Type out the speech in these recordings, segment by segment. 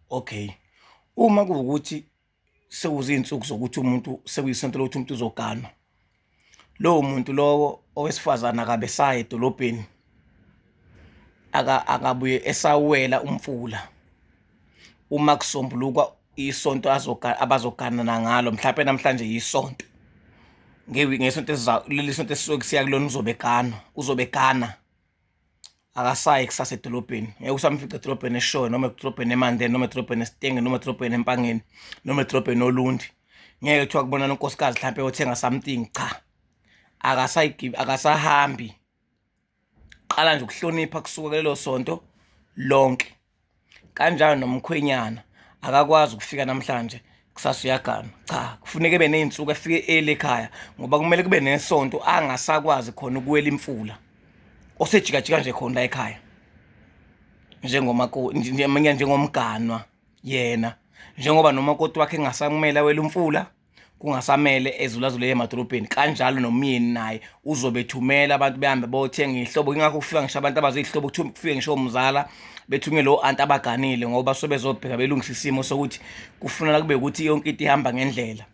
Okay, uma kuwukuthi sekuzinsuku zokuthi umuntu sekuyisonto lokuthi umuntu uzoganwa, lowo muntu lowo owesifazane akabe saye edolobheni, akabuye esawela umfula uma kusombuluka isonto abazoganana ngalo, mhlampe namhlanje yisonto ngesonto leli sonto esuke kusiya kulona uzobe eganwa, uzobe egana. akasayi kusasa edolobheni ngeke usamfica edolobheni eshoyo noma edolobheni emandeni noma edolobheni esitenge noma edolobheni empangeni noma edolobheni olundi ngeke kuthiwa kubonana unkosikazi mhlawumpe yothenga something cha akasahambi qala nje ukuhlonipha kusuka kulelo sonto lonke Kanjani nomkhwenyana akakwazi ukufika namhlanje kusasa uyaganwa cha kufuneka ebe ney'nsuku efike early ekhaya ngoba kumele kube nesonto angasakwazi khona ukuwela imfula osejikajika nje khona la ekhaya njengomakoti njengoba njengomganwa yena njengoba nomakoti wakhe engasakumele awele umfula. kungasamele ezulazule emadolobheni kanjalo nomyeni naye uzobethumela abantu behambe bothenga ihlobo ingakho kufika ngisho abantu abazi ihlobo kufike ngisho umzala bethunyelwe o-anti abaganile ngoba so bezobheka belungisa isimo sokuthi kufunela kube ukuthi yonke into ihamba ngendlela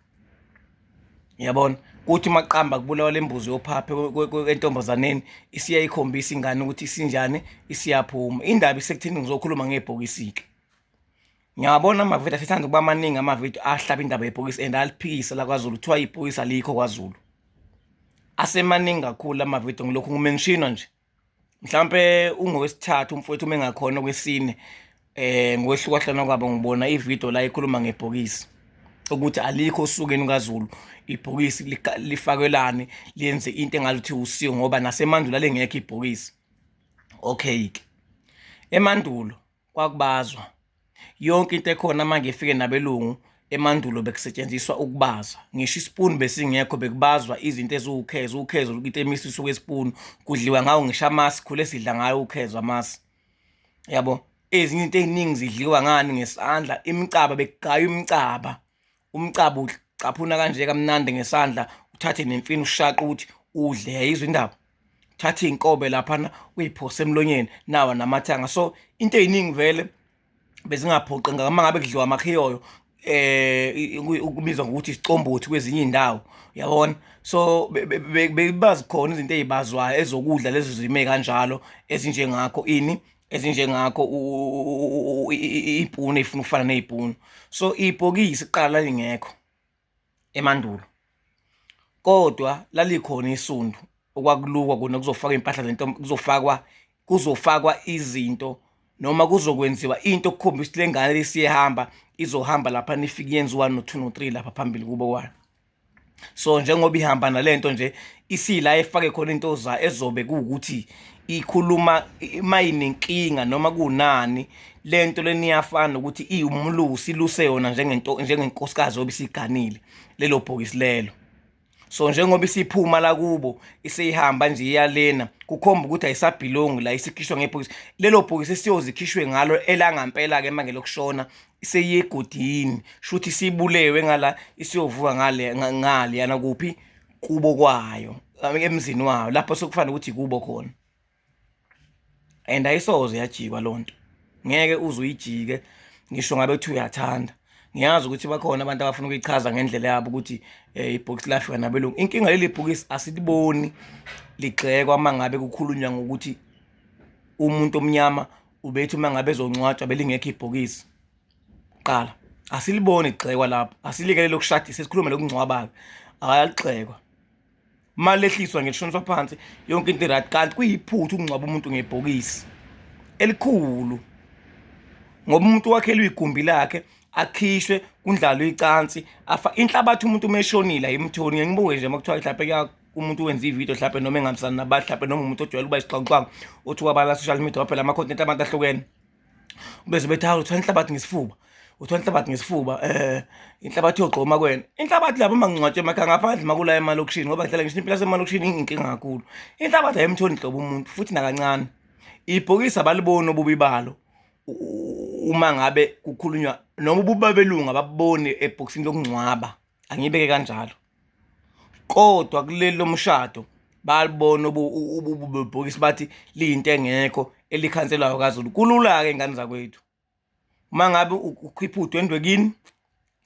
yabona kuthi maqamba kubulawa lembuzi yophaphe entombazaneni isiya ikhombisa ingane ukuthi isinjani isiyaphuma indaba isekuthini ngizokhuluma ngebhokisike Ngiyabona amavidiyo asithanda ukuba maningi amavidiyo ahlaba indaba yebhokisi and aliphikise lakwaZulu kuthiwa ibhokisi alikho kwaZulu asemaningi kakhulu amavidiyo ngilokhu ngumenshino nje mhlawumpe ungowesithathu umfowethu uma engakhona okwesine um ngokwehlukahlana kwabo ngibona ividiyo la ikhuluma ngebhokisi ukuthi alikho osukeni lukazulu ibhokisi lifakelani lenze into engaluthi usiyo ngoba nasemandulo alengekho ibhokisi okay-ke emandulo kwakubazwa yonke into ekhona uma ngifike nabelungu emandulo bekusetshenziswa ukubaza ngisho isipuni besingekho bekubazwa izinto eziwukhezo ukhezo into emisiswe kwesipuni kudliwa ngawo ngisho amasi khule sidla ngayo ukhezo amasi yabo ezinye into eziningi zidliwa ngani ngesandla imicaba bekugaywa imicaba Umcabu ucaphuna kanje kamnandi ngesandla uthathe nemfini ushaqa ukuthi udle yayizwa indaba thatha iy'nkobe laphana uyiphosa emlonyeni nawa namathanga so into ey'ningi vele bezingaphoqi ngama ngabe kudliwa amakhiyoyo eh ukubizwa ngokuthi isicombothi kwezinye indawo yabona so bebazi khona izinto ezibazwayo ezokudla lezo zime kanjalo ezinjengakho ini ezinjengakho iy'puni ey'funa ukufana ney'puni so ibhokisi kuqala lalingekho emandulo kodwa lalikhona isundu okwakulukwa kona kuzofakwa iy'mpahla zento kuzofakwa kuzofakwa izinto noma kuzokwenziwa into okukhombisa ukuthi le ngane lesiyehamba izohamba lapha nifike yenziwa no-two no-three lapha phambili kubo kwalo. so njengoba ihamba nalento nje isila efake khona into za ezobe kuwukuthi ikhuluma mayinenkinga noma kunani lento leniyafana ukuthi iwumlusi luse yona njengento njengenkosikazi obisiganile lelo bhokisi lelo so njengoba isiphuma la kubo iseyihamba nje iyalena kukhomba ukuthi ayisabhilongi la isikhishwa ngebhokisi lelo bhokisi siyozikhishwe ngalo elangampela-ke manje lokushona seyiye egodini shuthi sibulewe ngala isiyovuka ngale ngale yana kuphi kubo kwayo emzini wayo lapho sekufanele ukuthi kubo khona and ayisoze yajikwa lonto ngeke uzuyijike ngisho ngabe kuthi uyathanda ngiyazi ukuthi bakhona abantu abafuna ukuyichaza ngendlela yabo ukuthi eh, ibhokisi lafika nabelungu inkinga leli bhokisi asiliboni ligxekwa uma ngabe kukhulunywa ngokuthi umuntu omnyama ubethi uma ngabe ezongcwatshwa belingekho ibhokisi qala asiliboni igxekwa lapho asilikele lokushadisa sikhulume lokungcwabayo akaligxekwa imali lehliswa ngeshoniswa phansi yonke into right kanti kuyiphutha ukungcwaba umuntu ngebhokisi elikhulu ngoba umuntu wakhelwe igumbi lakhe akhishwe kundlalwe icansi afa inhlabathi umuntu umeshonile ayimthoni ngeke ngibuke nje uma kuthiwa mhlawumbe umuntu wenza ividiyo hlape noma engambisani nabantu hlape noma umuntu ojwayele uba isixakuxaku othi wabala social media waphela ama-content abantu ahlukene ubeze bethi hawu uthwala inhlabathi ngesifuba uthwala inhlabathi ngesifuba um inhlabathi yogxoma kwena inhlabathi lapho uma ngingcwatshwe emakhaya ngaphandle makula emalokishini ngoba ngihlala ngisho impila semalokishini inkinga kakhulu inhlabathi ayimtholi nhlobo umuntu futhi nakancane ibhokisi abaliboni obubi balo uma ngabe kukhulunywa noma ububa belungu ababoni ebhokisini lokungcwaba angibeke kanjalo kodwa kuleli lomshado balibona ububhokisi bathi liyinto engekho elikhanselayo kazulu kulula-ke ingane zakwethu uma ngabe ukhipha udwendwe kini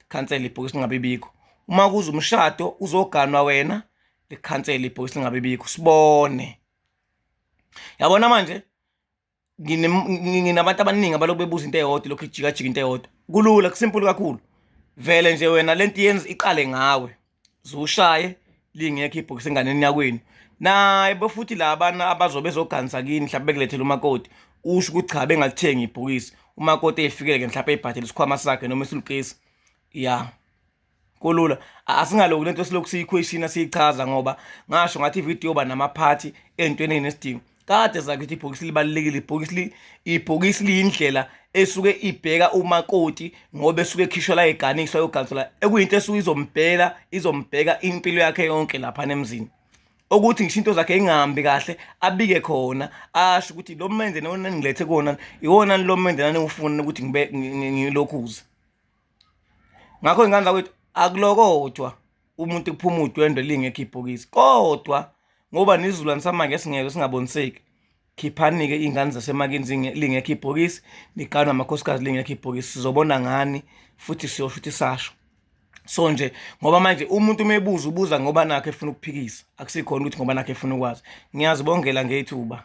likhansela ibhokisi lingabe bikho uma kuza umshado uzoganwa wena likhansela ibhokisi lingabe bikho sibone yabona manje nginabantu abaningi abaloku bebuza into eyodwa lokhu ijikajika into eyodwa kulula kusimple kakhulu vele nje wena lento yenza iqale ngawe zushaye lingekho ibhokisi enganeni yakwenu naye bofuthi labana abazobe bezoganisa kini mhlawumbe bekulethela umakoti usho ukuthi cha bengalithengi ibhokisi umakoti efikele ke mhlawumbe ebhadela isikhwama sakhe noma isulukesi ya kulula asingaloku lento silokhu siyikhweshina siyichaza ngoba ngasho ngathi ividiyo yoba namaphathi entweni enesidingo kade zakithi ibhokisi libalulekile ibhokisi ibhokisi liyindlela esuke ibheka umakoti ngoba esuke ekhishwa la eganiswa yogansela ekuyinto esuke izombhela izombheka impilo yakhe yonke lapha nemzini ukuthi ngisho into zakhe ingahambi kahle abike khona asho ukuthi lo mende nona ngilethe kona iwona lo mende nani ufuna ukuthi ngibe ngilokhuze ngakho ingane zakwethu akulokodwa umuntu kuphuma udwendwe lingekho ibhokisi kodwa ngoba nizulwane samanje singeke singaboniseki khiphanike iy'ngane zasemakini lingekho ibhokisi niqanwe amakhosikazi lingekho ibhokisi sizobona ngani futhi siyosho ukuthi sasho so nje ngoba manje umuntu uma ebuza ubuza ngoba nakho efuna ukuphikisa akusikhona ukuthi ngoba nakho efuna ukwazi ngiyazibongela ngethuba